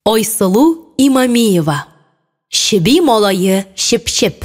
Айсылу Имамиева. Чеби малае Чепчеп.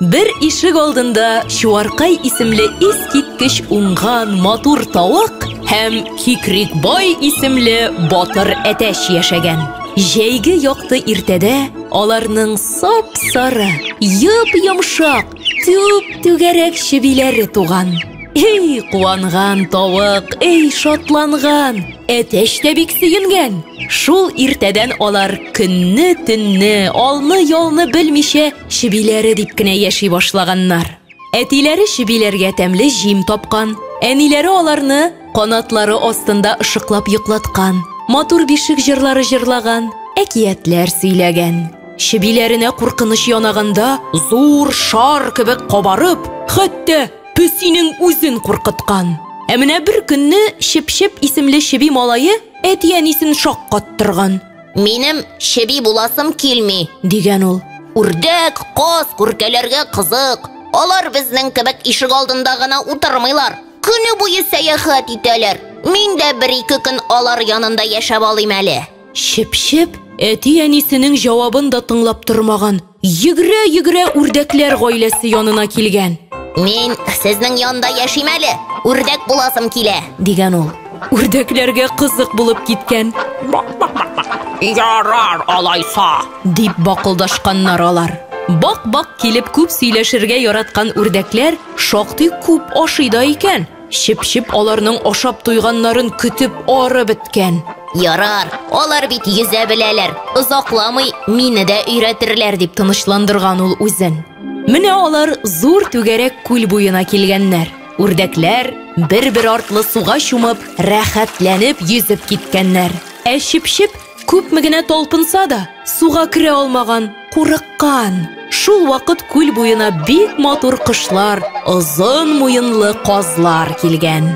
Бер ишек алдында Чуаркай исемле искиткеч уңган матур тавык һәм Кикрикбай исемле батыр әтәч яшәгән. Җәйге якты иртәдә аларның сап-сары, йып-йомшак, Түп түгәрәк чебиләре туган. Эй, куанган тавык, эй, шатланган! Әтәч тә бик сөенгән. Шул иртәдән алар көнне, төнне, алны, ялны белмичә, чебиләре дип кенә яши башлаганнар. Әтиләре чебиләргә тәмле җим тапкан, әниләре аларны канатлары астында ышыклап йоклаткан, матур бишек җырлары җырлаган, әкиятләр сөйләгән. Чебиләренә куркыныч янаганда, зур шар кебек кабарып, хәтта песинең үзен куркыткан. Ә менә бер көнне Чепчеп исемле чеби малае әти-әнисен шаккаттырган. Минем чеби буласым килми, дигән ул. Үрдәк, каз, күркәләргә кызык. Алар безнең кебек ишек алдында гына утырмыйлар. Көне буе сәяхәт итәләр. Мин дә бер-ике көн алар янында яшәп алыйм әле. Чеп-чеп әти-әнисенең җавабын да тыңлап тормаган, йөгерә-йөгерә үрдәкләр гаиләсе янына килгән. Мин сезнең янда яшим әле, үрдәк буласым килә, дигән ул. Үрдәкләргә кызык булып киткән. Ярар алайса, дип бакылдашканнар алар. Бак-бак килеп күп сөйләшергә яраткан үрдәкләр шактый күп ашый да икән. Чеп-чеп аларның ашап туйганнарын көтеп ары беткән. Ярар, алар бит йөзә беләләр, озакламый мине дә өйрәтерләр дип тынычландырган ул үзен. Менә алар зур түгәрәк күл буена килгәннәр. Үрдәкләр бер-бер артлы суга чумып, рәхәтләнеп йөзеп киткәннәр. Ә чеп-чеп Күпме генә талпынса да, суга керә алмаган, курыккан. Шул вакыт күл буена бик матур кошлар, озын муенлы казлар килгән.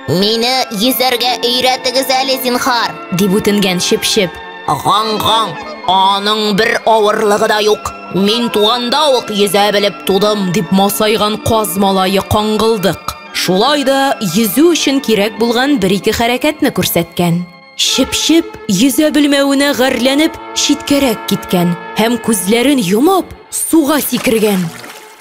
Мине йөзәргә өйрәтегез әле, зинхар, дип үтенгән Чепчеп. Ган-ган, аның бер авырлыгы да юк. Мин туганда ук йөзә белеп тудым, дип масайган каз малае каңгылдык. Шулай да йөзү өчен кирәк булган бер-ике хәрәкәтне күрсәткән. Чеп-чеп, йөзә белмәвенә гарьләнеп, читкәрәк киткән һәм күзләрен йомып, суга сикергән.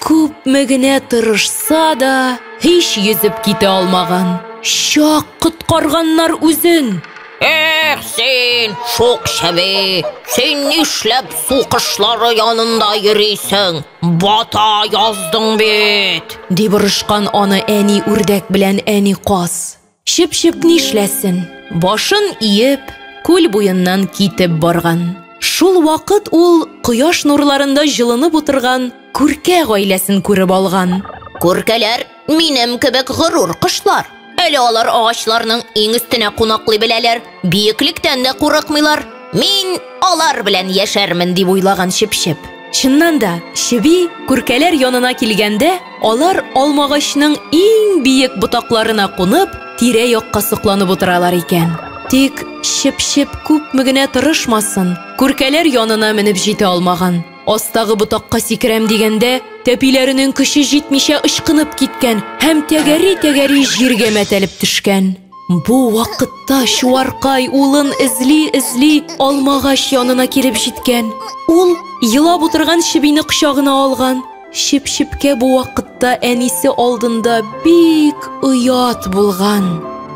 Күпме генә тырышса да, һич йөзеп китә алмаган. Чак коткарганнар үзен! Эх, син, шук чеби, син нишләп су кошлары янында йөрисең? Бата яздың бит! дип орышкан аны әни үрдәк белән әни каз. Чыпчык нишләсен, башын иеп, күл буеннан китеп барган. Шул вакыт ул кояш нурларында җылынып утырган күркә гаиләсен күреп алган. Күркәләр минем кебек горур кошлар. Әле алар агачларның иң өстенә кунаклый беләләр. Биеклектән дә курыкмыйлар. Мин алар белән яшәрмен дип уйлаган чепчеп. Чыннан да, чеби күркәләр янына килгәндә, алар алмагачның иң биек ботакларына кунып, тирә-якка сокланып утыралар икән. Тик чепчеп күпме генә тырышмасын, күркәләр янына менеп җитә алмаган. Астагы ботакка сикерәм дигәндә, тәпиләренең көче җитмичә ычкынып киткән һәм тәгәри-тәгәри җиргә мәтәлеп төшкән. Бу вакытта Чуаркай улын эзли-эзли алмагач янына килеп җиткән. Ул елап утырган чебине кочагына алган. Чеп-чепкә бу вакытта әнисе алдында бик оят булган.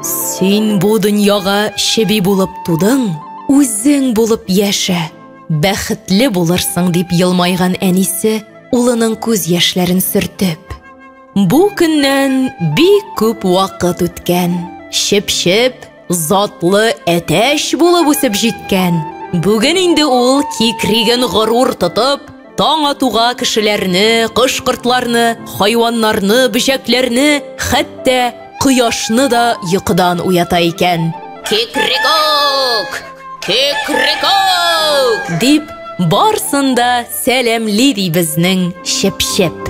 Син бу дөньяга чеби булып тудың, үзең булып яшә, бәхетле булырсың, дип елмайган әнисе улының күз яшьләрен сөртеп. Бу көннән бик күп вакыт үткән. Чеп-чеп, затлы әтәч булып үсеп җиткән. Бүген инде ул кикриген горур тотып, таң атуга кешеләрне, кош-кортларны, хайваннарны, бөҗәкләрне, хәтта кояшны да йокыдан уята икән. Кекрекок! Кекрекок! дип, барсын да Сәләмли ди безнең чеп-чеп.